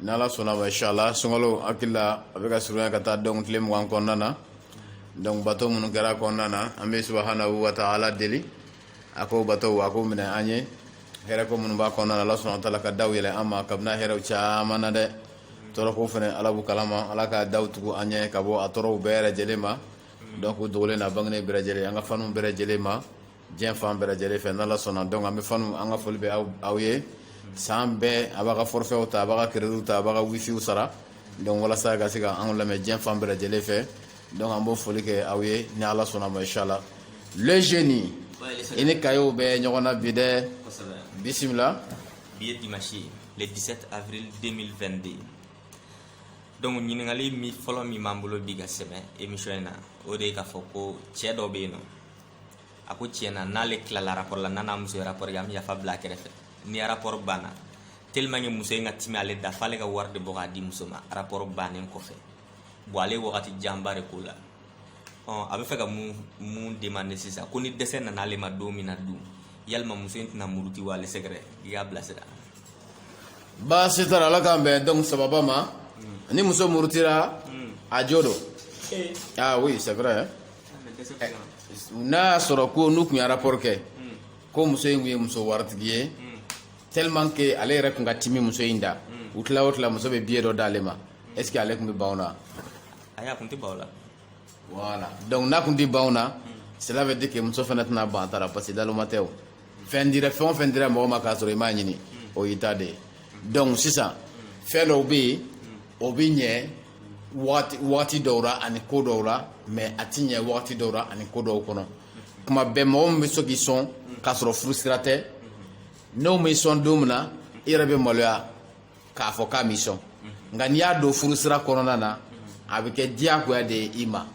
Ni ala sɔnna ma inshallah sunkalo hakili la a bɛ ka surunya ka taa donc tile mugan kɔnɔna na donc bato minnu kɛra kɔnɔna na an bɛ subhanahu wa ta'ala deli a k'o bato a k'o minɛ an ye hɛrɛ ko minnu b'a kɔnɔna ala subhanahu wa ta'ala ka da yɛlɛ an ma ka bɛn a hɛrɛ caman na dɛ tɔɔrɔko fana ala b'u kalama ala ka da tugu an ɲɛ ka bɔ a tɔɔrɔw bɛɛ lajɛlen ma donc o dogolen n'a bangenen bɛɛ lajɛlen an ka fanw bɛɛ lajɛlen ma diɲɛ fan bɛɛ lajɛlen fɛ n'ala sɔnna donc an bɛ fanw an ka foli bɛ aw ye san bɛɛ a b'a ka forfaitw ta a b'a ka crédit ta a b'a ka wifiw sara donc walasa ka se ka anw lamɛn diɲɛ fan bɛɛ lajɛlen fɛ donc an b'o foli kɛ aw ye ni ala sɔnna ma inshallah le génie i ni kayew bɛ ɲɔgɔn na bi dɛ bisimila bi ye dimanche ye le 17 avril 2022 donc ɲininkali min fɔlɔ min b'an bolo bi ka sɛmɛ émission in na o de ye k'a fɔ ko cɛ dɔ bɛ yen nɔ a ko tiɲɛ na n'ale tilala rapport la n'a n'a muso ye rapport kɛ an bɛ yafa bila a kɛrɛfɛ ni rapport banna tellement que muso in ka timi ale da f'ale ka wari de bɔ k'a di muso ma rapport bannen kɔfɛ bon ale ye wagati janba de k'o la ɔ a bɛ fɛ ka mun mun demande sisan ko ni dɛsɛ nana ale ma don min na dun yalima muso in tɛna muruti wa ale sɛgɛrɛ i y'a bilasira baasi t'a la ala k'an bɛn donc sababa ma ni muso murutira a jo don ah oui c'est vrai hein. n'a y'a sɔrɔ ko n'u tun ye rapport kɛ ko muso in tun ye muso waritigi ye tellement que ale yɛrɛ tun ka timi muso in da u tila o tila muso bɛ biye dɔ d'ale ma est ce que ale tun bɛ ban o la ayi a tun tɛ ban o la voilà donc n'a tun tɛ ban o la cela veut dire que muso fana tɛna ban a ta la parce que daloma tɛ o fɛn dira fɛn o fɛn dira mɔgɔ ma k'a sɔrɔ i m'a ɲini o y'i ta de ye donc sisan fɛn dɔw bɛ yen o bɛ ɲɛ wagati dɔw la ani ko dɔw la mais a ti ɲɛ wagati dɔw la ani ko dɔw kɔnɔ kuma bɛɛ mɔgɔ min bɛ so k'i sɔn k'a sɔrɔ furu sira tɛ n'o m'i sɔn don min na i yɛrɛ bɛ maloya k'a fɔ k'a m'i sɔn nka n'i y'a don furu sira kɔnɔna na a bɛ kɛ diyagoya de ye i ma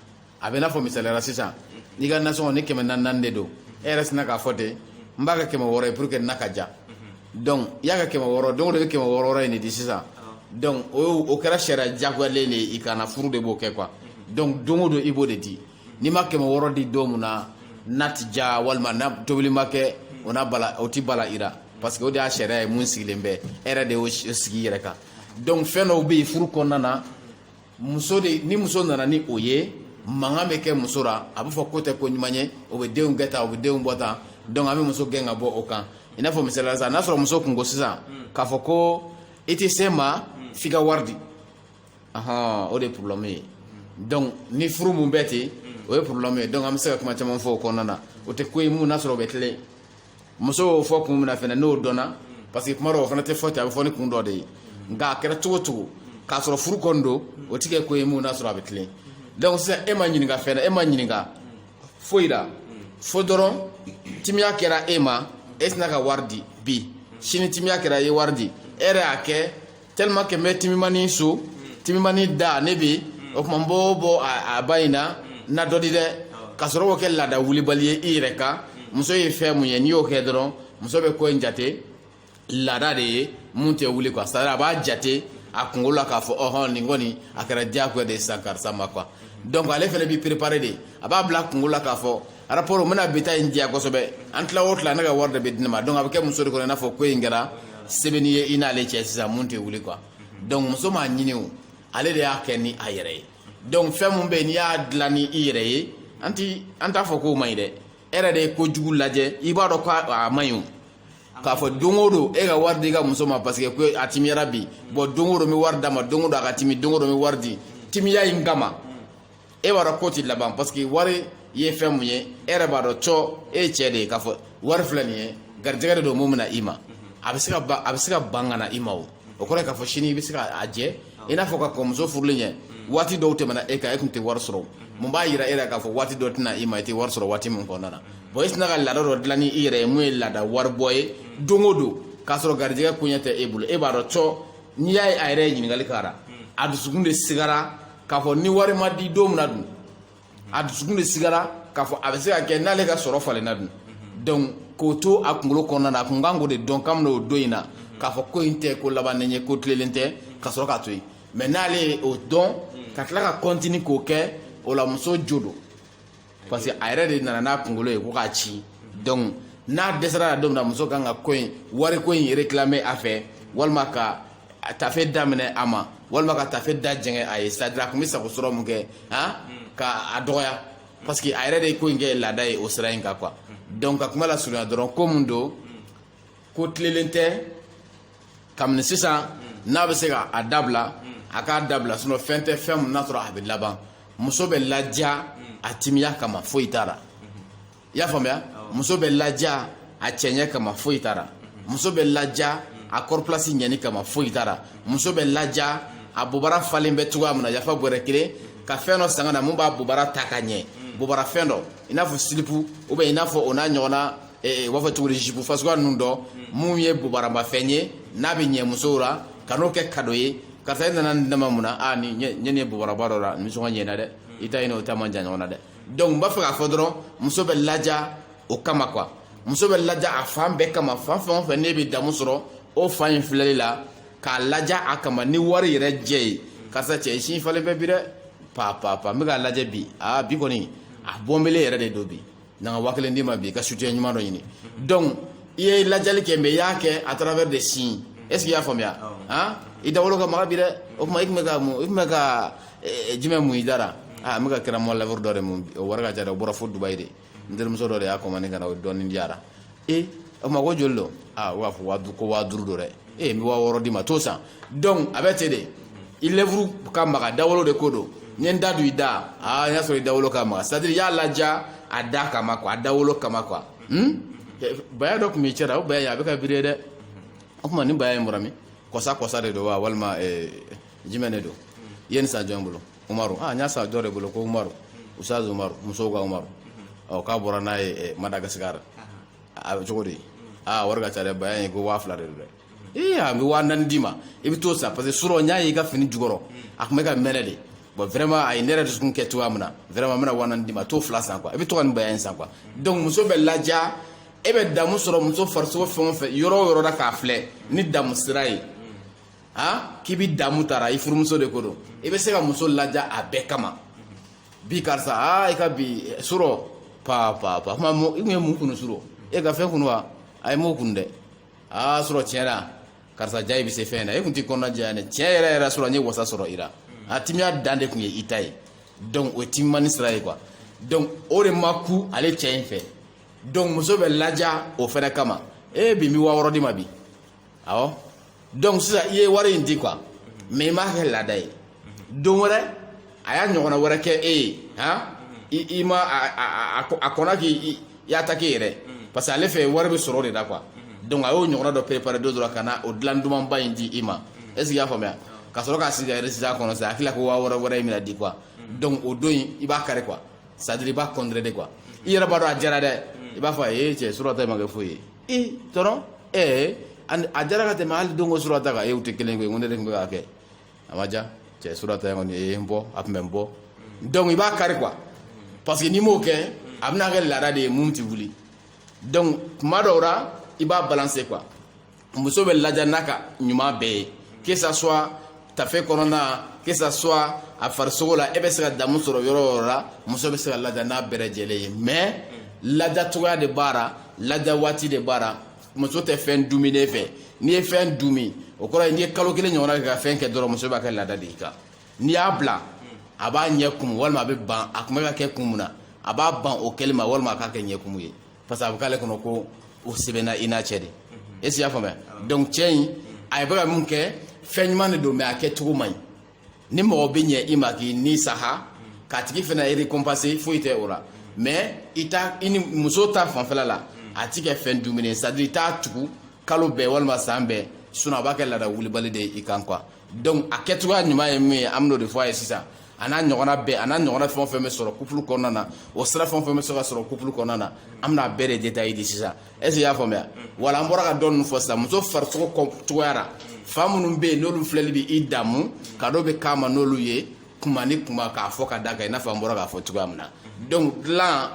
a bɛ n'a fɔ misali la sisan n'i ka nasɔngɔ ni kɛmɛ naani naani de don e yɛrɛ sina k'a fɔ ten n b'a kɛ kɛmɛ wɔɔrɔ ye pour que na ka diya donc i y'a kɛ kɛmɛ wɔɔrɔ don o don i bɛ kɛmɛ wɔɔrɔ wɔɔrɔ in de di sisan donc o o kɛra sariya jagoyalen de ye i kan na furu de b'o kɛ quoi donc don o don i b'o de di n'i ma kɛmɛ wɔɔrɔ di don min na na ti diya walima n'a tobili ma kɛ o n'a bala o ti bala i la parce que o de y'a sariya ye mun sigilen bɛ e yɛrɛ de y'o sigi i yɛrɛ kan donc fɛn dɔw bɛ yen furu kɔnɔna na muso de ni muso nana ni o ye mankan bɛ kɛ muso la a bɛ fɔ k'o tɛ ko ɲuman ye o bɛ denw kɛ ta o bɛ denw bɔ ta donc an bɛ muso gɛn ka bɔ o kan i n'a fɔ misali la sisan n'a sɔrɔ muso tun ko sisan k'a fɔ ko i tɛ se n ma f'i ka wari di ahɔn o de ye problème ye donc ni furu mun bɛ ten o ye problème ye donc an bɛ se ka kuma caman fɔ o kɔnɔna na o tɛ ko ye mun n'a sɔrɔ o bɛ tilen muso y'o fɔ kun min fana n'o dɔn parce que kuma dɔw o fana tɛ fɔ ten a bɛ fɔ ni kun dɔ de ye nka a kɛra cogo cogo k'a sɔrɔ furu kɔni don o tɛ kɛ ko ye mun n'a sɔrɔ a bɛ tilen donc sisan e ma ɲininka fɛn na e ma ɲininka foyi la fo dɔrɔn timiya kɛra e ma e sinna ka wari di bi sini timiya kɛra e ye wari di e yɛrɛ y'a kɛ tellement que n bɛ timimani so timimani da ne bɛ o tuma n b'o bɔ a ba in na na dɔ di dɛ ka sɔrɔ k'o kɛ laada wulibali ye i yɛrɛ kan muso ye fɛn mun ye n'i y'o kɛ dɔrɔn muso bɛ ko in jate laada de ye mun tɛ wuli quoi c'est à dire a b'a jate a kunkolo la k'a fɔ ɔhɔn nin kɔni a kɛra diyagoya de ye sisan karisa ma quoi donc ale fana b'i préparer de a b'a bila a kunkolo la k'a fɔ rapport n bɛna bi ta in diya kosɛbɛ an tila o tila ne ka wari de bɛ di ne ma donc a bɛ kɛ muso de kɔnɔ i n'a fɔ ko in kɛra sɛbɛnni ye i n'ale cɛ sisan mun tɛ wuli quoi donc muso m'a ɲini o ale de y'a kɛ ni a yɛrɛ ye donc fɛn min bɛ yen n'i y'a dilan ni i yɛrɛ ye an ti an t'a fɔ k'o man ɲi dɛ e yɛrɛ de ye ko jugu lajɛ i b'a dɔn k'a man ɲi o k'a fɔ don o don e ka wari di i ka muso ma parce que ko a timiyara bi bon don o don n bɛ wari d'a ma don o don a ka timi don o don n bɛ wari di timiya in kama e b'a dɔn ko ti laban parce que wari ye fɛn mun ye e yɛrɛ b'a dɔn cɔ e ye cɛ de ye k'a fɔ wari filɛ nin ye garijɛgɛ de don mun bɛ na i ma a bɛ se ka ban a bɛ se ka ban ka na i ma o o kɔrɔ ye k'a fɔ sini i bɛ se ka a jɛ i n'a fɔ ka kɔn muso furuli ɲɛ waati dɔw tɛmɛna e kan e tun tɛ wari sɔrɔ mun b'a yira e la k'a fɔ waati dɔ tɛ na i ma i tɛ wari sɔrɔ waati min kɔnɔna na bon i sinna ka laada dɔ dilan ni i yɛrɛ ye mun ye laada waribɔ ye don o don k'a sɔrɔ garijɛgɛ koɲɛ tɛ e bolo e b'a dɔn cɔ n'i y'a ye a yɛrɛ ye ɲininkali k'a la a dusukun de sigara k'a fɔ ni wari ma di don min na dun a dusukun de sigara k'a fɔ a bɛ se ka kɛ n'ale ka sɔrɔ falenna dun donc k'o to a kunkolo kɔnɔna na a kun kan k'o de dɔn kabini o don in na k'a fɔ ko in tɛ ko labannen ye ko tilelen tɛ ka sɔrɔ k'a to yen mais n'ale ye o dɔn ka tila ka continuer k'o kɛ o la muso jo don parce que a yɛrɛ de nana n'a kunkolo ye ko k'a ci donc n'a dɛsɛra la don min na muso kan ka ko in wari ko in réclamer a fɛ walima ka tafe da minɛ a ma walima ka tafe da jɛngɛ a ye c'est à dire a tun bɛ sago sɔrɔ mun kɛ han ka a dɔgɔya parce que a yɛrɛ de ye ko in kɛ laada ye o sira in kan quoi donc ka kuma lasurunya dɔrɔn ko mun don ko tilelen tɛ kabini sisan n'a bɛ se ka a dabila a k'a dabila sinon fɛn tɛ fɛn min n'a sɔrɔ a bɛ laban muso bɛ ladiya a timiya kama foyi t'a la i y'a faamuya muso bɛ ladiya a cɛɲɛ kama foyi t'a la muso bɛ ladiya a kɔrɔpilasi ɲɛni kama foyi t'a la muso bɛ ladiya a bobara falen bɛ cogoya min na yafa bɔrɛ kelen ka fɛn dɔ san ka na mun b'a bobara ta ka ɲɛ bobara fɛn dɔ i n'a fɔ slip ou bien i n'a fɔ o n'a ɲɔgɔnna u b'a fɔ cogo di jupe fasuguya ninnu dɔ mun ye bobaramafɛn ye n'a bɛ ɲɛ musow la ka n'o kɛ kado ye karisa e nana nin dama mun na aa nin ɲɛ nin ye bobaraba dɔ la nisɔngɔ ɲɛna dɛ i ta in ni o ta man jan ɲɔgɔn na dɛ donc n b'a fɛ k'a fɔ dɔrɔn muso bɛ ladiya o kama quoi muso bɛ ladiya a fan bɛɛ kama fan fɛn o fɛn n'e bɛ damu sɔrɔ o fan in filɛli la k'a ladiya a kama ni wari yɛrɛ jɛ ye karisa cɛ i sin falen bɛ bi dɛ pa pa pa n bɛ k'a lajɛ bi aa bi kɔni a bɔnbele yɛrɛ de don bi na ka waa kelen d'i ma bi i ka soutien ɲuman dɔ ɲini donc i ye ladiyali kɛ mais i y'a kɛ à travers des signes est ce que i y'a faamuya han i dawolo ka maga bi dɛ o tuma i tun bɛ ka mun i tun bɛ ka jumɛn mun i da la aa n bɛ ka crème à lèvres dɔ de mun o wari ka ca dɛ o bɔra fo dubayi de n terimuso dɔ de y'a commandé ka na o dɔɔnin diyara ee o tuma ko joli don aa u b'a fɔ waa du- ko waa duuru don dɛ ee n bɛ waa wɔɔrɔ d'i ma t'o san donc a bɛ ten de i lèvre ka maga dawolo de ko don n ye n da don i da aa n y'a sɔrɔ i dawolo ka maga c'est à dire i y'a ladiya a da kama quoi a dawolo kama quoi hmm? baya dɔ tun b'i cɛ la o baya in a bɛ ka briller dɛ o tuma nin baya in bɔra min kɔsa kɔsa de don wa walima eh, jumɛn de don i ye nin san jɔn bolo umaru ah n y'a san dɔ de bolo ko umaru usaze umaru musow ka umaru ɔ k'a bɔra n'a ye eh, madagasikara a bɛ cogo di aa wari ka ca dɛ baya in ko waa fila de don dɛ ee a bɛ waa naani d'i ma i bɛ t'o san parce que surɔ n y'a ye i ka fini jukɔrɔ a tun bɛ ka mɛnɛ de bon vraiment a ye ne yɛrɛ dusukun kɛ cogoya min na vraiment n bɛna waa naani d'i ma t'o fila san quoi i bɛ to ka nin baya in san quoi donc muso bɛ ladiya e bɛ damu sɔrɔ muso farisogo fɛn o fɛn yɔrɔ o yɔrɔ la k'a filɛ ni damu sira ye ha k'i bi damu t'a la i furumuso de ko don i bɛ se ka muso ladiya a bɛɛ kama bi karisa aa i ka bi surɔ pa pa pa kuma i kun ye mun kunu surɔ e ka fɛn kunu wa ayi n m'o kunu dɛ aa surɔ tiɲɛ na karisa jaa i bɛ se fɛn na e kun ti kɔnɔna janya dɛ tiɲɛ yɛrɛ yɛrɛ surɔ n ye wasa sɔrɔ i la a timiya dan de kun ye i ta ye donc o ye timimani sira ye quoi donc o de ma ku ale cɛ in fɛ donc muso bɛ ladiya o fɛnɛ kama e bi n bi waa wɔɔrɔ d'i ma bi awɔ donc sisan i ye wari in di quoi mais i m'a kɛ laada ye don wɛrɛ a y'a ɲɔgɔnna wɛrɛ kɛ e ye han i ma a kɔnna k'i i attaqué yɛrɛ parce que ale fɛ wari bɛ sɔrɔ o de la quoi donc a y'o ɲɔgɔnna dɔ préparer don dɔ la ka na o dilan dumanba in di i ma est ce que i y'a faamuya ka sɔrɔ k'a sigi ka résultat kɔnɔ sisan a hakili la ko waa wɔɔrɔ wɛrɛ in bɛna di quoi donc o don in i b'a kari quoi c'est à dire i b'a contredit quoi i yɛrɛ b'a dɔn a diyara dɛ i b'a fɔ a ye cɛ surɔ ta ma kɛ foyi ye i tɔrɔ ee a diyara ka tɛmɛ hali don ko surɔ ta kan u tɛ kelen koyi ko ne de tun bɛ k'a kɛ a ma diya cɛ surɔ ta in kɔni ye n bɔ a tun bɛ n bɔ donc i b'a kari quoi parce que n'i m'o kɛ a bɛna kɛ laada de ye mun tɛ wuli donc tuma dɔw la i b'a balancer quoi muso bɛ ladiya n'a ka ɲuman bɛɛ ye que ça soit tafe kɔnɔna que ça soit a farisogo la e bɛ se ka damu sɔrɔ yɔrɔ o yɔrɔ la muso bɛ se ka ladiya n'a bɛɛ lajɛlen ye mais ladiya cogoya de b'a la ladiya waati de b'a la muso tɛ fɛn dumuni fɛ n'i ye fɛn dumi o kɔrɔ ye n'i ye kalo kelen ɲɔgɔnna kɛ ka fɛn kɛ dɔrɔn muso b'a kɛ laada de y'i kan n'i y'a bila a b'a ɲɛ kumu walima a bɛ ban a kun bɛ k'a kɛ kun mun na a b'a ban o kɛli ma walima a k'a kɛ ɲɛkumu ye parce que a bɛ k'ale kɔnɔ ko o sɛbɛnna i n'a cɛ de est ce que i y'a faamuya donc cɛ in a bɛ ka mun kɛ fɛn ɲuman de don mais a kɛ cogo man ɲi ni mɔgɔ bɛ ɲɛ i ma k'i ni saha k'a tigi fana récompenser foyi tɛ o la mais i ni muso ta fanfɛla la a ti kɛ fɛn dumuni c'est à dire i t'a tugu kalo bɛɛ walima san bɛɛ sinon a b'a kɛ laada wulibali de ye i kan quoi donc a kɛcogoya ɲuman ye min ye an bɛn'o de fɔ a ye sisan a n'a ɲɔgɔnna bɛɛ a n'a ɲɔgɔnna fɛn o fɛn bɛ sɔrɔ couple kɔnɔna na o sira fɛn o fɛn bɛ se ka sɔrɔ couple kɔnɔna na an bɛna a bɛɛ de détail di sisan est ce que i y'a faamuya voilà an bɔra ka dɔ ninnu fɔ sisan muso farisogo cogoya la fan minnu bɛ yen n'olu filɛli bɛ i damu cadeau bɛ k'a ma n'olu ye kuma ni kuma k'a fɔ ka d'a kan i n'a fɔ an bɔra k'a fɔ cogoya min na donc dilan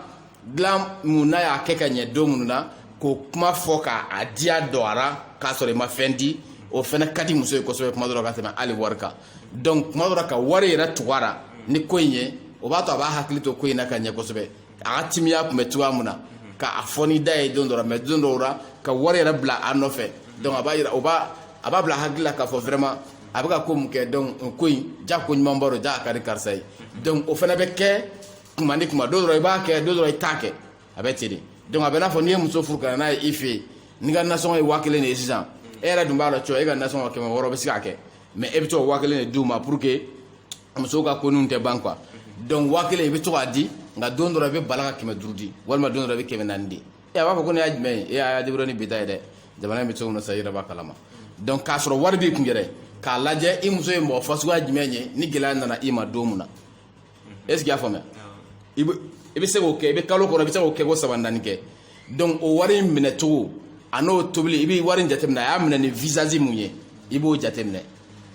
dilan mun n'a y'a kɛ ka ɲɛ don minnu na k'o kuma fɔ k'a diya dɔgɔyara k'a sɔrɔ i ma fɛn di o fana ka di muso ye kosɛbɛ kuma dɔ la ka tɛmɛ hali wari kan donc kuma dɔ la ka wari yɛrɛ tugu a la ni ko in ye o b'a to a b'a hakili to ko in na ka ɲɛ kosɛbɛ a ka timiya tun bɛ cogoya min na k'a fɔ ni da ye don dɔ la mais don dɔw la ka wari yɛrɛ bila a nɔfɛ donc a b'a yira o b'a a b'a bila hakili la k'a fɔ vraiment a bɛ ka ko mun kɛ donc ko in ja ko ɲumanba don ja a ka di karisa ye donc o fana bɛ kɛ kuma ni kuma don dɔ la i b'a kɛ don dɔ la i t'a kɛ a bɛ ten de donc a bɛ n'a fɔ n'i ye muso furu ka na n'a ye i fɛ yen n'i ka nasɔngɔ ye waa kelen de ye sisan e yɛrɛ dun b'a dɔn cɔ e ka nasɔngɔ kɛmɛ wɔɔrɔ bɛ se k'a kɛ mais e bɛ to ka waa kelen de d'u ma pour que musow ka ko ninnu tɛ ban quoi donc waa kelen i bɛ to k'a di nka don dɔ la i bɛ bala ka kɛmɛ duuru di walima don dɔ la i bɛ kɛmɛ naani di e a b'a fɔ ko ne y'a jumɛn ye e y'a débrouiller ni bi ta ye dɛ jamana in bɛ cogo min na sa i yɛrɛ b'a kalama donc k'a sɔrɔ wari b'i kun yɛrɛ k'a lajɛ i muso ye mɔgɔ fasuguya jumɛn ye ni gɛlɛya nana i ma don min na est ce que i y'a faamuya i bɛ se k'o kɛ i bɛ kalo kɔnɔ i bɛ se k'o kɛ ko saba naani kɛ donc o wari in minɛ cogo a n'o tobili i bɛ wari in jateminɛ a y'a minɛ ni visage mun ye i b'o jateminɛ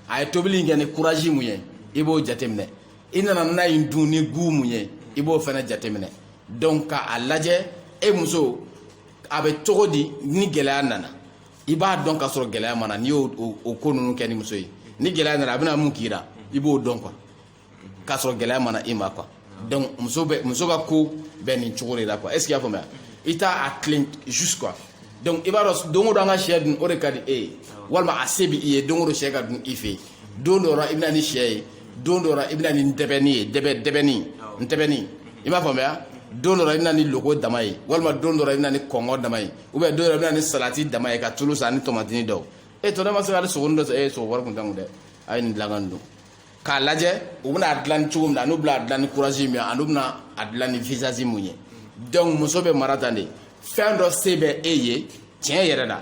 a ye tobili in kɛ ni courage mun ye i b'o jateminɛ i nana n'a ye dun ni goût mun ye i b'o fana jateminɛ donc k'a lajɛ e muso a bɛ cogo di ni gɛlɛya nana i b'a dɔn k'a sɔrɔ gɛlɛya ma na n'i y'o ko ninnu kɛ ni muso ye ni gɛlɛya nana a bɛna mun k'i la i b'o dɔn quoi k'a sɔrɔ gɛlɛya ma na i ma quoi donc muso bɛ muso ka ko bɛ nin cogo de la quoi est ce que y'a faamuya i t'a a tilen juste quoi donc i b'a dɔn don o don an ka sɛ dun o de ka di e ye walima a se bɛ i ye don o don sɛ ka dun i fɛ yen don dɔ la i bɛna ni sɛ ye don dɔ la i bɛna ni ntɛbɛnni ye dɛbɛ dɛbɛnni ntɛbɛnni i m'a faamuya don dɔ la i bɛna ni loko dama ye walima don dɔ la i bɛna ni kɔnkɔn dama ye ou bien don dɔ la i bɛna ni salati dama ye ka tulu san ni tɔmatini dɔw e tɔ ne ma se ka hali sogoni dɔ san e sogo wari kun t'an kun dɛ a ye nin dilan ka nin dun k'a lajɛ u bɛna a dilan cogo min na an'u bɛna a dilan ni courage min ye an'u bɛna a dilan ni visage mun ye donc muso bɛ mara tan de fɛn dɔ se bɛ e ye tiɲɛ yɛrɛ la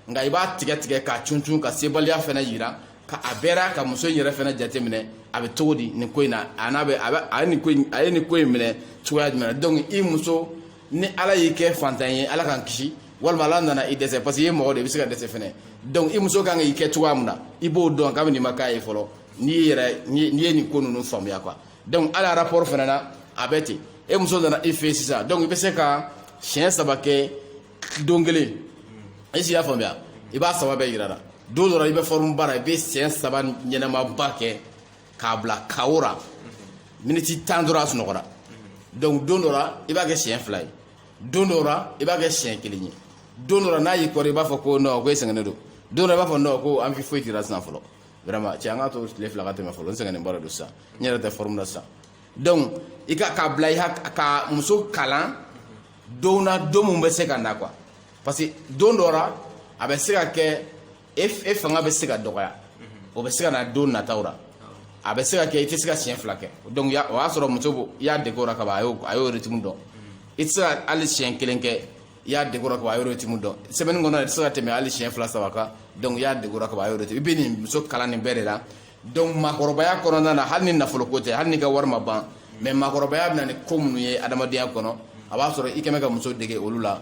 nka i b'a tigɛ tigɛ k'a cuncun ka sebaliya fɛnɛ yira ka a bɛɛ ra ka muso in yɛrɛ fɛnɛ jateminɛ a bɛ cogo di nin ko in na a n'a bɛ a bɛ a ye nin ko in a ye nin ko in minɛ cogoya jumɛn na donc i muso ni ala y'i kɛ fantan ye ala k'an kisi walima ala nana i dɛsɛ parce que i ye mɔgɔ de i bɛ se ka dɛsɛ fɛnɛ donc i muso kan k'i kɛ cogoya min na i b'o dɔn kabini i ma k'a ye fɔlɔ n'i yɛrɛ n'i ye nin ko ninnu faamuya quoi donc hali rapport fɛnɛ na a bɛ ten e muso nana i fɛ sisan donc i bɛ se ka siɲɛ saba kɛ don kelen est ce que i y'a faamuya i b'a saba bɛɛ yir'a la don dɔ la i bɛ forme ba ra i bɛ siɲɛ saba ɲɛnamaba kɛ k'a bila KO ra miniti tan dɔrɔn a sunɔgɔra donc don dɔ la i b'a kɛ siɲɛ fila ye don dɔ la i b'a kɛ siɲɛ kelen ye don dɔ la n'a y'i kɔrɔ i b'a fɔ ko non ko e sɛgɛnnen don don dɔ i b'a fɔ non ko envie foyi t'i ra sisan fɔlɔ vraiment cɛ an k'a to tile fila ka tɛmɛ fɔlɔ n sɛgɛnnen ba de don sisan n yɛrɛ tɛ forme la sisan donc i ka k'a bila i hak- ka muso kalan don na don min bɛ se ka na quoi parce que don dɔ la a bɛ se ka kɛ e e fanga bɛ se ka dɔgɔya o bɛ se ka na don nataw la a bɛ se ka kɛ i tɛ se ka siɲɛ fila kɛ donc o y'a sɔrɔ muso i y'a dege o la kaban a y'o a y'o rythme dɔn i tɛ se ka hali siɲɛ kelen kɛ i y'a dege o la kaban a y'o rythme dɔn semaine kɔnɔ i tɛ se ka tɛmɛ hali siɲɛ fila saba kan donc i y'a dege o la kaban a y'o rythme i bɛ nin muso kalan nin bɛɛ de la donc maakɔrɔbaya kɔnɔna na hali ni nafolo ko tɛ hali n'i ka wari ma ban mais maakɔrɔbaya bɛna ni ko minnu ye adamadenya kɔnɔ a b'a sɔrɔ i kɛmɛ ka muso dege olu la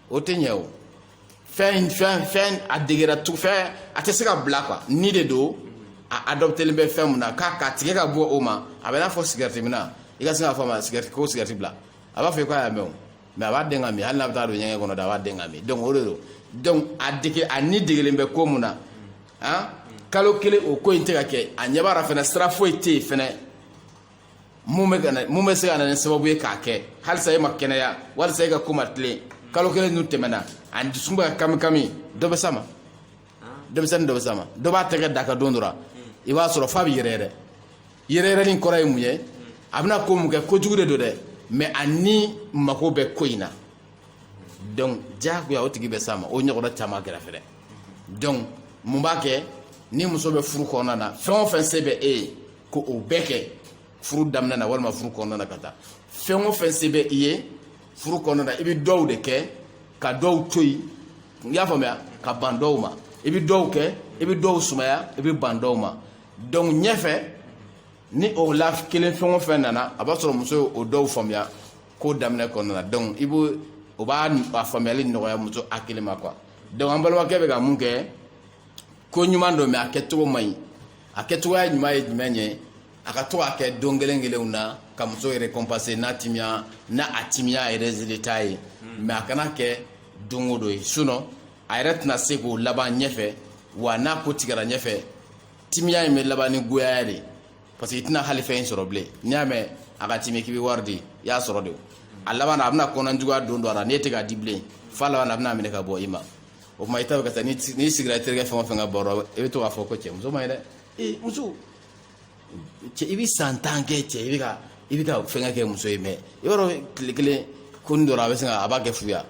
o tɛ ɲɛ o fɛn fɛn fɛn a degera tu fɛn a tɛ se ka bila quoi ni de don a adoptelen bɛ fɛn mun na k'a ka tigɛ ka bɔ o ma a bɛ n'a fɔ sigɛriti minna i ka se k'a fɔ a ma sigɛriti ko sigɛriti bila a b'a fɔ i k'a y'a mɛn o mais a b'a dɛn k'a min hali n'a bɛ taa don ɲɛgɛn kɔnɔ da a b'a dɛn k'a min donc o de don donc a dege a ni degelen bɛ ko mun na han kalo kelen o ko in tɛ ka kɛ a ɲɛ b'a la fɛnɛ sira foyi tɛ yen fɛnɛ mun bɛ ka na mun bɛ se ka na ni sababu ye k'a kɛ halisa e ma kɛnɛya halisa e ka ko ma tilen kalo kelen dun tɛmɛna a dusukun bɛ ka kami kami dɔ bɛ s'a ma denmisɛnnin dɔ bɛ s'a ma dɔ b'a tɛgɛ d'a kan don dɔ la i b'a sɔrɔ f'a bɛ yɛrɛyɛrɛ yɛrɛyɛrɛni kɔrɔ ye mun ye a bɛna ko mun kɛ kojugu de don dɛ mais a ni mako bɛ ko in na donc diyagoya o tigi bɛ s'a ma o ɲɔgɔnna caman kɛra fɛnɛ donc mun b'a kɛ ni muso bɛ furu kɔnɔna na fɛn o fɛn se bɛ e ye ko o bɛɛ kɛ furu daminɛ na walima furu kɔnɔna na ka taa fɛn o fɛn se bɛ i ye furu kɔnɔna na i bɛ dɔw de kɛ ka dɔw to yen i y'a faamuya ka ban dɔw ma i bɛ dɔw kɛ i bɛ dɔw sumaya i bɛ ban dɔw ma donc ɲɛfɛ ni o la kelen fɛn o fɛn nana a b'a sɔrɔ muso ye o dɔw faamuya ko daminɛ kɔnɔna na donc i b'o o b'a a faamuyali nɔgɔya muso hakili ma quoi donc an balimakɛ bɛ ka mun kɛ ko ɲuman don mais a kɛcogo man ɲi a kɛcogoya ɲuman ye jumɛn ye a ka to k'a kɛ don kelen kelenw na ka muso récompenser n'a timiya n'a a timiya yɛrɛ résultat ye mais a kana kɛ don o don ye sinon a yɛrɛ tɛna se k'o laban ɲɛfɛ wa n'a ko tigɛra ɲɛfɛ timiya in bɛ laban ni goyaya de parce que i tɛna hali fɛn in sɔrɔ bilen n'i y'a mɛn a ka timi k'i bɛ wari di i y'a sɔrɔ de a laban a bɛna kɔnɔjuguya don don a la n'e tɛ k'a di bilen f'a laban a bɛna minɛ ka bɔ i ma o tuma i ta bɛ ka taa n'i si- n'i sigira i terikɛ fɛn o fɛn ka baro la, i bɛ to k'a fɔ ko cɛ muso man ɲi dɛ ee muso cɛ i bɛ san tan kɛ cɛ i bɛ ka i bɛ ka fɛnkɛ kɛ muso ye mais yɔrɔ tile kelen ko nin dɔrɔn a bɛ sin ka a b'a kɛ fuya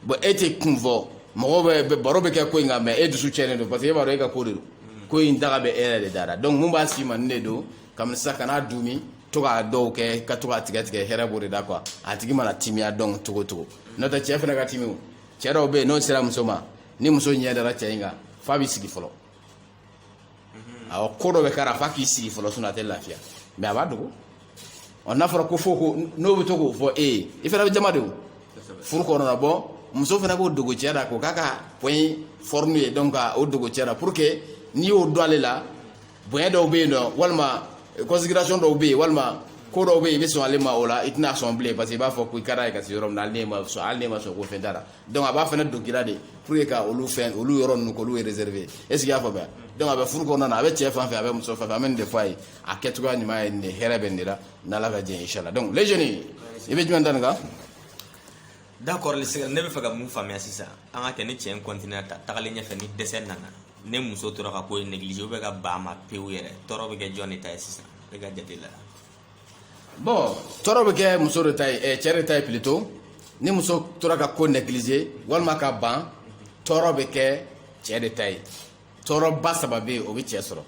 bon e tɛ kun fɔ mɔgɔw bɛ bɛ- baro bɛ kɛ ko in kan mais e dusu cɛnnen don parce que e b'a dɔn e ka ko de don ko in daga bɛ e yɛrɛ de da la donc mun b'a si ma nin de don kabini sisan kana dumi to k'a dɔw kɛ ka to k'a tigɛ tigɛ hɛrɛ b'o de da quoi a tigi mana timiya dɔn cogo cogo n'o tɛ cɛ fana ka timi o cɛ dɔw bɛ yen n'o sera muso ma ni muso ɲɛ dara cɛ in kan f'a b'i sigi fɔlɔ awɔ ko dɔ bɛ k'a la f'a k'i sigi fɔlɔ sinon a tɛ lafiya mais a b'a dogo ɔ n'a fɔra ko fo ko n'o bɛ to k'o fɔ e ye i fana bɛ jama de o furu kɔnɔna bon muso fana k'o dogo cɛ la k'o k'a ka point fort ye donc ka o dogo cɛ la pour que n'i y'o dɔn ale la bonya dɔw bɛ yen nɔ walima considération dɔw bɛ yen walima ko dɔw bɛ yen i bɛ sɔn ale ma o la i tɛna sɔn bilen parce que i b'a fɔ ko i ka d'a ye ka se yɔrɔ min na hali ne ma sɔn hali ne ma sɔn ko fɛn t'a la donc a b'a fana dogo i la de pour que ka olu fɛn olu yɔrɔ ninnu k'olu réserver est ce que i y'a faamuya donc a bɛ furu kɔnɔna na a bɛ cɛ fan fɛ a bɛ muso fan fɛ an bɛ nin de fɔ a ye a kɛcogoya ɲuman ye nin de hɛrɛ bɛ nin de la n'ala ka jɛn inchallah donc les jeunes i bɛ jumɛn da nin kan d'accord ne bɛ fɛ ka mun faamuya sisan an ka kɛ ni cɛ in continuer ta tagalen ɲɛfɛ ni dɛsɛ nana ni muso tora ka ko négliger ou bien ka ban a ma pewu yɛrɛ tɔɔrɔ bɛ kɛ jɔn de ta ye sisan e ka jate la bon tɔɔrɔ bɛ kɛ muso de ta ye eh, cɛ de ta ye plutôt ni muso tora ka ko négliger walima ka ban tɔɔrɔ bɛ kɛ cɛ de ta ye tɔɔrɔba saba bɛ yen o bɛ cɛ sɔrɔ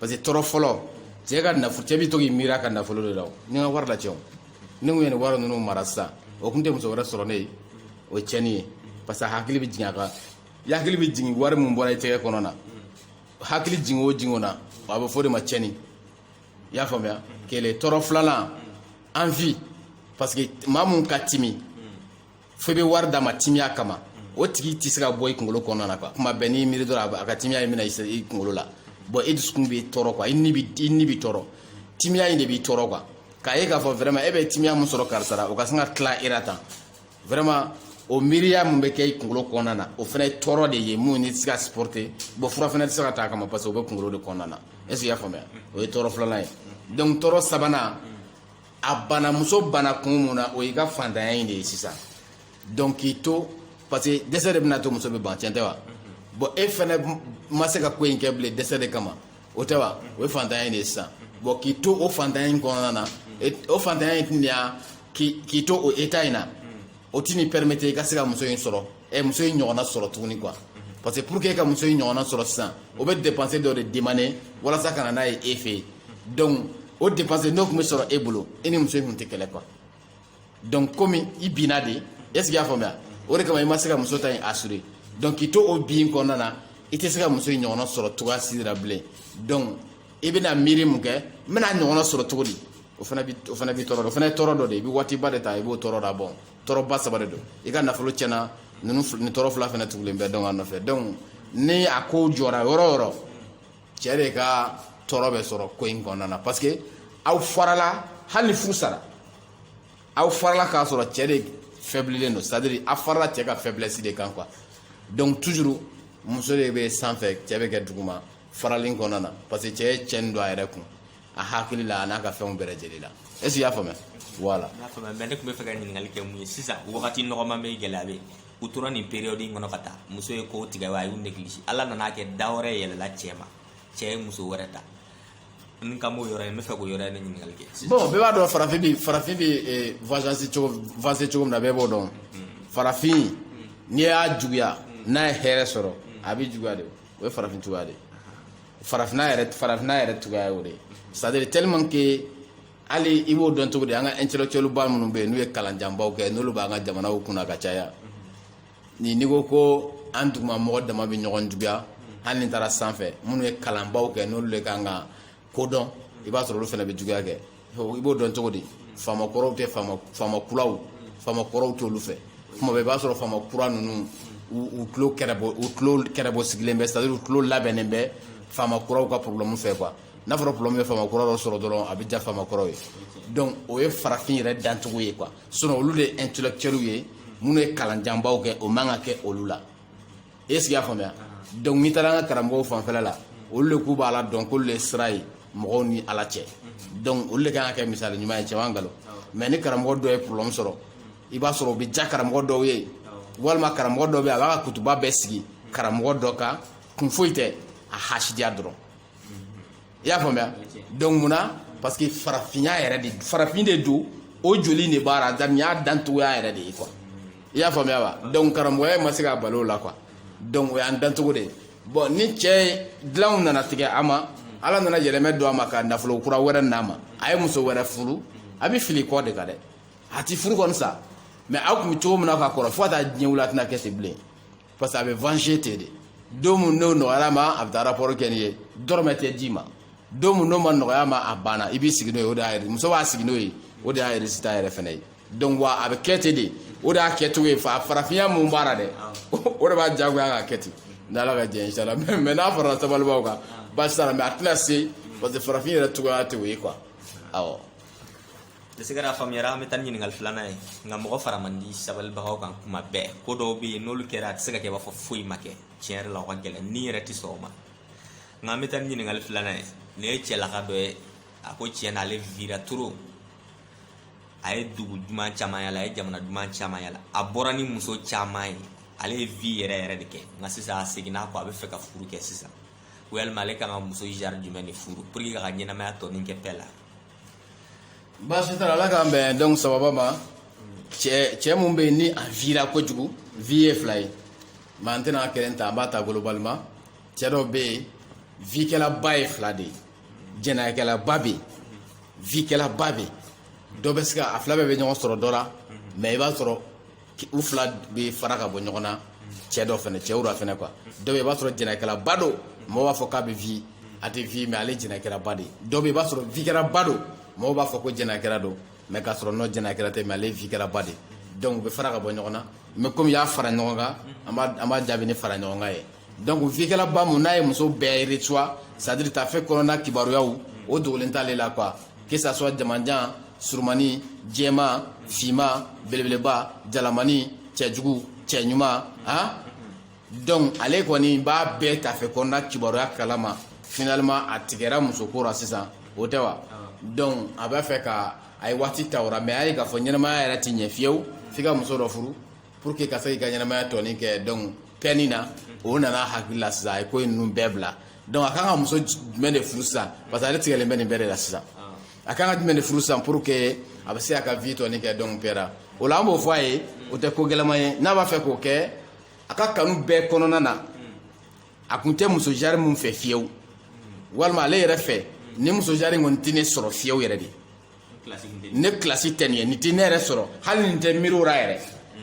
parce que tɔɔrɔ fɔlɔ cɛ ka nafolo cɛ bɛ to k'i miiri a ka nafolo de la n'a ka wari la cɛ ni n kun ye nin wari ninnu mara sisan o tun tɛ muso wɛrɛ sɔrɔ ne ye o ye tiɲɛni ye parce que a hakili bɛ jigin a kan i hakili bɛ jigin wari min bɔra i tɛgɛ kɔnɔ na hakili jigin o jigin o na a bɛ fɔ o de ma cɛnni i y'a faamuya kelen tɔɔrɔ filanan envie parce que maa mun ka timi fo i bɛ wari d'a ma timiya kama o tigi tɛ se ka bɔ i kunkolo kɔnɔna na quoi kuma bɛɛ n'i miiri dɔrɔn a bɛ- a ka timiya in bɛna i se- i kunkolo la bon e dusukun b'i tɔɔrɔ quoi i ni b'i i ni b'i tɔɔrɔ timiya in de b'i tɔɔrɔ quoi k'a ye k'a fɔ vraiment e bɛ timiya mun sɔrɔ karisa la o ka sin ka tila e la tan vraiment o miiriya min bɛ kɛ i kunkolo kɔnɔna na o fana ye tɔɔrɔ de ye mun ni tɛ se ka supporter bon fura fana tɛ se ka ta a kama parce que o bɛ kunkolo de kɔnɔna na est ce que i y'a faamuya o ye tɔɔrɔ filanan ye donc tɔɔrɔ sabanan a bana muso bana kun mun na o y'i ka fantanya in de ye sisan donc k'i to parce que dɛsɛ de bɛna to muso bɛ ban tiɲɛ tɛ wa bon e fana ma se ka ko in kɛ bilen dɛsɛ de kama o tɛ wa o ye fantanya in de ye sisan bon k'i to o fantanya in kɔnɔna na o fantanya in tun de y'a k'i to o état in na o tɛn'i permettre i ka se ka muso in sɔrɔ ɛ muso in ɲɔgɔnna sɔrɔ tuguni quoi parce que pour que e ka muso in ɲɔgɔnna sɔrɔ sisan o bɛ dépense dɔ de demander walasa ka na n'a ye e fɛ yen donc o dépense n'o tun bɛ sɔrɔ e bolo e ni muso in tun tɛ kɛlɛ quoi donc komi i binna de est ce que y'a faamuya o de kama i ma se ka muso ta in assurer donc k'i to o bin kɔnɔna na i tɛ se ka muso in ɲɔgɔnna sɔrɔ cogoya si de la bilen donc i bɛna miiri mun kɛ n bɛna ɲɔgɔnna sɔrɔ cogo di o fana b'i o fana b'i tɔɔrɔ dɔ o fana ye tɔɔrɔ dɔ de ye i bɛ waatiba de ta i b'o tɔɔrɔ da bon tɔɔrɔba saba de don i ka nafolo tiɲɛna ninnu nin tɔɔrɔ fila fana tugulen bɛ donc a nɔfɛ donc ni a ko jɔra yɔrɔ o yɔrɔ cɛ de ka tɔɔrɔ bɛ sɔrɔ ko in kɔnɔna na parce que aw farala hali ni furu sara aw farala k'a sɔrɔ cɛ de faiblilen don c'est à dire a farala cɛ ka faiblesse de kan quoi donc toujours muso de bɛ sanfɛ cɛ bɛ kɛ duguma faralen kɔnɔna na parce que cɛ ye cɛnni don a yɛrɛ kun a hakili la a n'a ka fɛnw bɛɛ lajɛlen la est ce que i y'a faamuya voilà. n y'a faamuya mais ne tun bɛ fɛ ka ɲininkali kɛ mun ye sisan wagati nɔgɔman bɛ gɛlɛya bɛ yen u tora nin période in kɔnɔ ka taa muso ye kow tigɛ wa a y'u négligé ala nana kɛ da wɛrɛ yɛlɛla cɛ ma cɛ ye muso wɛrɛ ta n kan b'o yɔrɔ in n bɛ fɛ k'o yɔrɔ in de ɲininkali kɛ bon bɛɛ b'a dɔn farafin bɛ farafin bɛ eh, avancer cogo avancer cogo min na bɛɛ b'o dɔn hmm. farafin hmm. n'i y'a juguya hmm. n'a ye hɛrɛ sɔrɔ a bɛ juguya de o ye farafin cogoya de ye farafinna yɛrɛ farafinna yɛrɛ cogoya ye o de ye c'est à dire tellement que hali i b'o dɔn cogo di an ka intellectuelba minnu bɛ yen n'u ye kalanjanbaw kɛ n'olu b'an ka jamanaw kunna ka caya ni n'i ko ko an duguma mɔgɔ dama bɛ ɲɔgɔn juguya hali n'i taara sanfɛ minnu ye kalanbaw kɛ n'olu de kan ka ko dɔn i b'a sɔrɔ olu fana bɛ juguya kɛ i b'o dɔn cogo di faama kɔrɔw tɛ faama faama kuraw faama kɔrɔw t'olu fɛ kuma bɛɛ i b'a sɔrɔ faama kura ninnu u tulo kɛrɛbɔ u tulo kɛrɛbɔ sigilen bɛ c'est à dire u tulo labɛnnen bɛ faama kuraw ka problème fɛ quoi n'a fɔra problème bɛ faama kura dɔ sɔrɔ dɔrɔn a bɛ diya faama kɔrɔw ye donc o ye farafin yɛrɛ dancogo ye quoi sinon olu de ye intellectuels ye minnu ye kalanjanbaw kɛ o man ka kɛ olu la est ce que i y'a faamuya donc n'i taara an ka karamɔgɔw fanfɛla la olu de k'u b'a la dɔn k'olu de ye sira ye mɔgɔw ni ala cɛ donc olu de kan ka kɛ misali ɲuman ye cɛman nkalon mais ni karamɔgɔ dɔ ye problème sɔrɔ i b'a sɔrɔ o bɛ diya karamɔgɔ dɔw ye walima karamɔgɔ dɔ bɛ yen a b'a ka kutuba bɛɛ sigi karamɔgɔ dɔ kan kun foyi tɛ a hasidiya dɔrɔn i y'a faamuya donc mun na parce que farafinya yɛrɛ de farafin de don o joli de b'a la nin y'a dancogoya yɛrɛ de ye quoi i y'a faamuya wa donc karamɔgɔya ma se k'a bali o la quoi donc o y'an dancogo de ye bon ni cɛ dilanw nana tigɛ a ma ala nana yɛlɛmɛ don a ma ka nafolo kura wɛrɛ n'a ma a ye muso wɛrɛ furu a b'i fili kɔ de kan dɛ a t'i furu kɔni sa mais aw tun bɛ cogo min na ka kɔrɔ fo ka taa diɲɛ wuli a tɛna kɛ ten bilen parce que a bɛ venger ten de don min n'o nɔgɔyara a ma a bɛ taa rapport kɛ n'i ye dɔrɔmɛ tɛ d'i ma don min n'o ma nɔgɔya a ma a banna i b'i sigi n'o ye o de y'a muso b'a sigi n'o ye o de y'a résultat yɛrɛ fana ye donc wa a bɛ kɛ ten de o de y'a kɛcogo ye fa farafinya mun b'a la dɛ o de b'a diyagoya k'a kɛ ten n'ala ka jɛ inshallah mais mais n'a farala sabalibaw kan baasi t'a la mais a tɛna se parce que farafin yɛrɛ cogoya tɛ o ye quoi awɔ. ne se ka faamuyara an bɛ taa ni ɲininkali filanan ye nka mɔgɔ fara man di sabalibagaw kan kuma bɛɛ ko dɔw bɛ yen n'olu kɛra a tɛ se ka kɛ i b'a fɔ foyi ma kɛ tiɲɛ yɛrɛ la o ka gɛlɛn ni yɛrɛ tɛ sɔn o ma nka an bɛ taa ni ɲininkali filanan ye nin ye cɛlaka dɔ ye a ko tiɲɛ na ale vira trop a ye dugu duman caman yala a ye jamana duman caman yala a bɔra ni muso caman ye ale ye vi yɛrɛ yɛrɛ de kɛ nka sisan a seginna kɔ a bɛ fɛ ka furu kɛ sisan walima ale kan ka muso genre jumɛn de furu pour que a ka ɲɛnamaya tɔ nin kɛ paix la baasi t'a la ala k'an bɛn don sababa ma cɛ cɛ mun bɛ yen ni a vira kojugu vi ye fila ye mais an tɛna kelen ta an b'a ta globalement cɛ dɔw bɛ yen vikɛlaba ye fila de ye jɛnɛyakɛlaba bɛ yen vikɛlaba bɛ yen dɔ bɛ se ka a fila bɛɛ bɛ ɲɔgɔn sɔrɔ dɔ la mais i b'a sɔrɔ u fila bɛ fara ka bɔ ɲɔgɔn na cɛ dɔ fana cɛw dɔ fana quoi dɔ bɛ i b'a sɔrɔ jɛnɛyakɛlaba don mɔgɔ b'a fɔ k'a bɛ vi a tɛ vi mais ale jɛnɛyakɛlaba de dɔ bɛ i b'a sɔrɔ vikɛlaba don mɔgɔ b'a fɔ ko jɛnɛyakɛla don mais k'a sɔrɔ n'o jɛnɛyakɛla tɛ mais ale vikɛlaba de donc u bɛ fara ka bɔ ɲɔgɔn na mais comme i y'a fara ɲɔgɔn kan an b'a jaabi ni fara ɲɔgɔn kan ye donc vikɛlaba mun n'a ye muso bɛɛ reçoit c'est à dire tafe kɔnɔna kibaruyaw o dogolen t'ale la quoi que ça soit jamanjan surumani jɛman finman belebeleba jalamani cɛjugu cɛɲuman han donc ale kɔni b'a bɛɛ tafe kɔnɔna kibaruya kalama finalement a tigɛra musoko ra sisan o tɛ wa donc a b'a fɛ ka a ye waati ta o ra mais a ye k'a fɔ ɲɛnamaya yɛrɛ tɛ ɲɛ fiyewu f'i ka muso dɔ furu Pour que ka se k'i ka ɲɛnamaya tɔnin kɛ donc kɛni na o nana hakili la sisan a ye ko in ninnu bɛɛ bila donc a ka kan ka muso jumɛn de furu sisan parce que ale tigɛlen bɛ nin bɛɛ de la sisan a ka kan ka jumɛn de furu sisan pour que a bɛ se a ka vie tɔnin kɛ donc pɛra o la an b'o fɔ a ye o tɛ ko gɛlɛman ye n'a b'a fɛ k'o kɛ a ka kanu bɛɛ kɔnɔna na a kun tɛ muso genre min fɛ fiyewu walima ale yɛrɛ fɛ ni muso genre in kɔni tɛ ne sɔrɔ fiyewu yɛrɛ de ne kilasi tɛ nin ye nin tɛ ne yɛrɛ sɔrɔ hali nin tɛ miiri o la yɛrɛ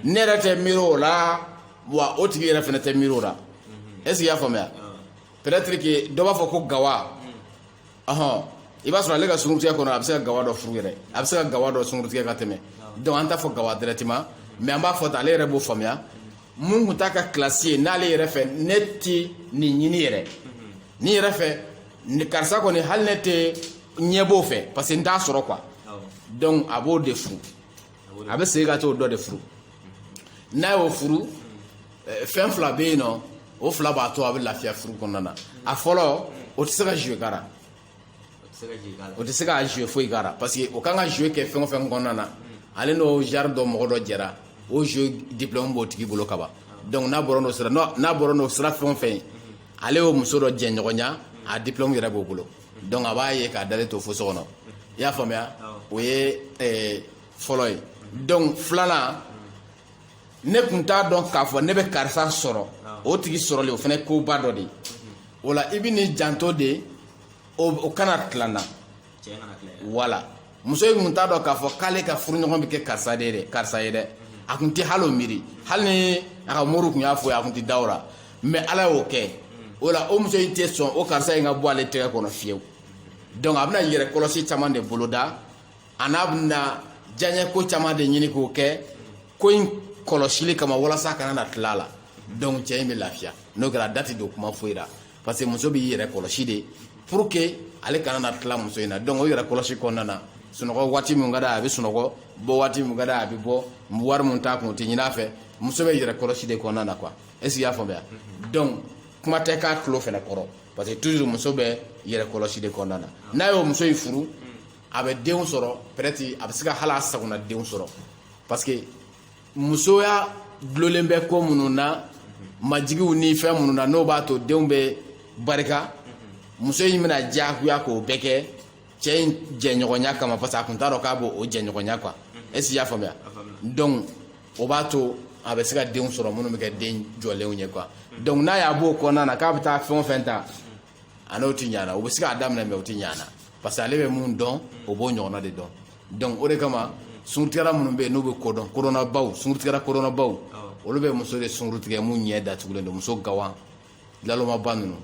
ne yɛrɛ tɛ miiri o la wa o tigi yɛrɛ fana tɛ miiri o la est ce que i y'a faamuya peut-être que dɔ b'a fɔ ko gawa ɔhɔn i b'a sɔrɔ ale ka sunkurutigɛ kɔnɔ a bɛ se ka gawa dɔ furu yɛrɛ a bɛ se ka gawa dɔ sunkurutigɛ ka tɛmɛ donc an t'a fɔ gawa directement mais an b'a fɔ tan ale yɛrɛ b'o faamuya mun kun t'a ka kilasi ye n'ale yɛrɛ fɛ ne ti nin ɲini yɛrɛ nin yɛrɛ fɛ karisa kɔni hali ne tɛ ɲɛ b'o fɛ parce que n t'a sɔrɔ quoi donc a b'o de furu a bɛ segin ka t'o dɔ de furu n'a y'o furu eh, fɛn fila bɛ yen n'o fila b'a to a bɛ lafiya furu kɔnɔna na a fɔlɔ o tɛ se ka jouer k'a la o tɛ se ka jouer foyi k'a la parce que o kan ka jouer kɛ fɛn o fɛn kɔnɔna na ale n'o genre dɔ mɔgɔ dɔ jɛra o jouer diplôme b'o tigi bolo kaban donc n'a bɔra n'o sira n'a bɔra n'o sira fɛn o fɛn ye ale y'o muso dɔ jɛɲɔgɔnya a diplôme yɛrɛ b'o bolo donc a b'a ye k'a dalen to fo so kɔnɔ i y'a faamuya o ye eh, fɔlɔ ye donc filanan ne kun t'a dɔn k'a fɔ ne bɛ karisa sɔrɔ o tigi sɔrɔlen o fana ye koba dɔ de ye o la i bɛn'i janto de o kana tila n na wala muso in kun t'a dɔn k'a fɔ k'ale ka furuɲɔgɔn bɛ kɛ karisa ye dɛ a kun tɛ hali o miiri hali ni a ka moriw kun y'a fɔ a kun tɛ da o la mais ala y'o kɛ o la o muso in tɛ sɔn o karisa in ka bɔ ale tɛgɛ kɔnɔ fiyewu donc a bɛna yɛrɛ kɔlɔsi caman de boloda an'a bɛna diyaɲɛ ko caman de ɲini k'o kɛ ko in kɔlɔsili kama walasa a kana na tila a la donc cɛ in bɛ lafiya n'o kɛra a da tɛ don kuma foyi la parce que muso b'i yɛrɛ kɔlɔsi de pour que ale kana na tila muso in na donc o yɛrɛ kɔlɔsi kɔnɔna na sunɔgɔ waati min ka d'a ye a bɛ sunɔgɔ bɔ waati min ka d'a ye a bɛ bɔ wari min t'a kun o tɛ ɲini a fɛ muso bɛ yɛrɛ kɔlɔsi de kɔnɔna na quoi est ce que i y'a faamuya donc kuma tɛ k'a tulo fɛnɛ kɔrɔ parce que toujours muso bɛ yɛrɛ kɔlɔsi de kɔnɔna na n'a y'o muso in furu a bɛ denw sɔrɔ peut être a bɛ se ka hali a sagona denw sɔrɔ parce que musoya dulonlen bɛ ko minnu na majigiw ni fɛn minnu na n'o b'a to denw bɛ barika muso in bɛna diyagoya k'o bɛɛ kɛ cɛ in jɛɲɔgɔnya kama parce que a kun t'a dɔn k'a b'o jɛɲɔgɔnya quoi est-ce que y'a faamuya donc o b'a to a bɛ se ka denw sɔrɔ minnu bɛ kɛ den jɔlenw ye quoi donc n'a y'a b'o kɔnɔna na k'a bɛ taa fɛn o fɛn ta a n'o tɛ ɲana o bɛ se k'a daminɛ mais o tɛ ɲana parce que ale bɛ mun dɔn o b'o ɲɔgɔnna de dɔn donc o de kama sunkurutigɛla minnu bɛ yen n'u bɛ kodɔn kodɔnnabaw sunkurutigɛla kodɔnnabaw olu bɛ muso de sunkuru tigɛ mun ɲɛ datugulen don muso gawa nalomaba ninnu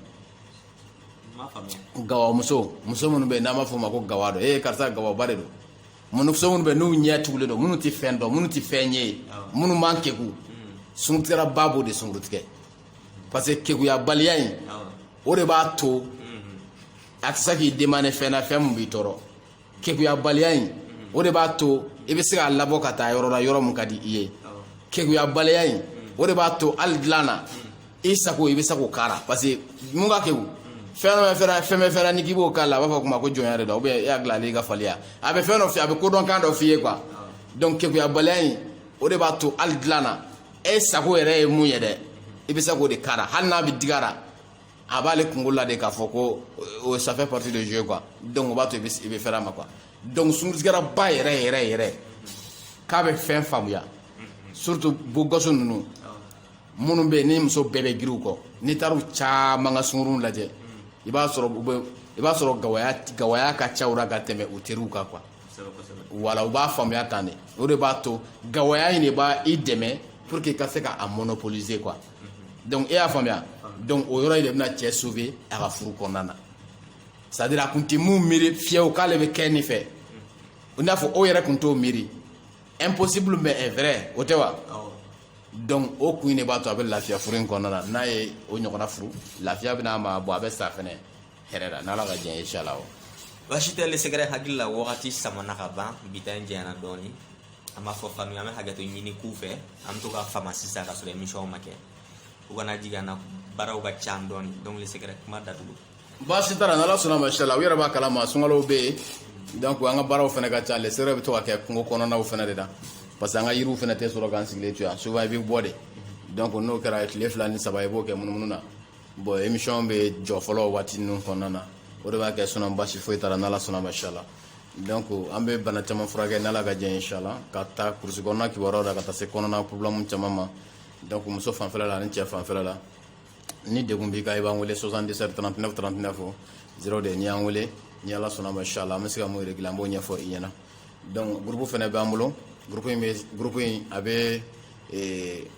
gawa muso muso minnu bɛ yen n'an b'a fɔ u ma ko gawa dɔ ee karisa gawaba de don muso minnu bɛ yen n'u ɲɛ tugulen don minnu tɛ fɛn dɔn minnu tɛ fɛn ye minnu man kegu sunkurutigɛla ba b'o de sunkuru tigɛ parce que kekuyabaliya in o de b'a to a tɛ se k'i demande fɛn na fɛn min b'i tɔɔrɔ kekuyabaliya in o de b'a to i bɛ se k'a labɔ ka taa yɔrɔ la yɔrɔ min ka di i ye kekuyabaliya in o de b'a to hali dilan na i sago i bɛ se k'o k'a la parce que mun ka keku fɛn dɔ fɛn fɛn bɛ fɛn n'i k'i b'o k'a la a b'a fɔ kuma ko jɔnya de don e y'a dilan ale ka faliya a bɛ fɛn dɔ f'i ye a bɛ kodɔnkan dɔ f'i ye quoi donc kekuyabaliya in o de b'a to hali dilan na e sago yɛrɛ ye mun ye dɛ i bɛ se k'o de k'a la hali n'a bɛ dig'a la a b'ale kunkolo la de k'a fɔ ko ça fait partie de jeu quoi donc o b'a to i bɛ fɛrɛ a ma quoi donc sunkurutigɛla ba yɛrɛ yɛrɛ yɛrɛ k'a bɛ fɛn faamuya surtout beaux gosses ninnu minnu bɛ yen ni muso bɛɛ bɛ girin u kɔ n'i taara u caman ka sunkuruw lajɛ i b'a sɔrɔ u bɛ i b'a sɔrɔ gawaya gawaya ka ca u la ka tɛmɛ u teriw kan quoi wala u b'a faamuya tan de o de b'a to gawaya in de b'a i dɛmɛ pour que i ka se ka a monopoliser quoi donc e y'a faamuya donc o yɔrɔ in de bɛna cɛ sauver a ka furu kɔnɔna na c'est à dire a kun tɛ mun miiri fiyewu k'ale bɛ kɛ nin fɛ i n'a fɔ o yɛrɛ kun t'o miiri impossible mais est vrai o tɛ wa donc o kun de b'a to a bɛ lafiya furu in kɔnɔna na n'a ye o ɲɔgɔnna furu lafiya bɛna a ma bon a bɛ sa fɛnɛ hɛrɛ la n'ala ka diɲɛ ye inshala o baasi tɛ les secrets hakili la wagati samana ka ban bi ta in janyana dɔɔni an b'a fɔ fanu an bɛ hakɛto ɲini k'u fɛ an bɛ to ka fama sisan ka sɔrɔ émission ma kɛ u kana jigin an na baaraw ka ca dɔɔni donc les secrets kuma datugu baasi t'a la n'ala sɔnna ma inshala u yɛrɛ b'a kalama sunkalow bɛ yen donc an ka baaraw fɛnɛ ka ca les secrets bɛ to ka kɛ kungo kɔnɔnaw fɛnɛ de la parce que an ka yiriw fɛnɛ tɛ sɔrɔ k'an sigilen to yan souvent i bɛ bɔ de donc n'o kɛra tile fila ni saba i b'o kɛ munumunu na bon émission bɛ jɔ fɔlɔ waati ninnu kɔnɔna na o de b'a kɛ sinon baasi foyi t'a la n'ala sɔnna ma inshala donc an bɛ bana caman furakɛ n'ala ka diɲɛ inshala ka ta kurusi kɔnɔna kibaruyaw la ka taa se kɔnɔna problème caman ma donc muso fanfɛla la ani cɛ fanfɛla la ni degun b'i kan i b'an wele 77 39 39 o 0 de n'i y'an wele ni ala sɔnna ma inshala an bɛ se ka mun régler an b'o ɲɛfɔ i ɲɛna donc groupe fɛnɛ b'an bolo groupe in bɛ groupe in a bɛ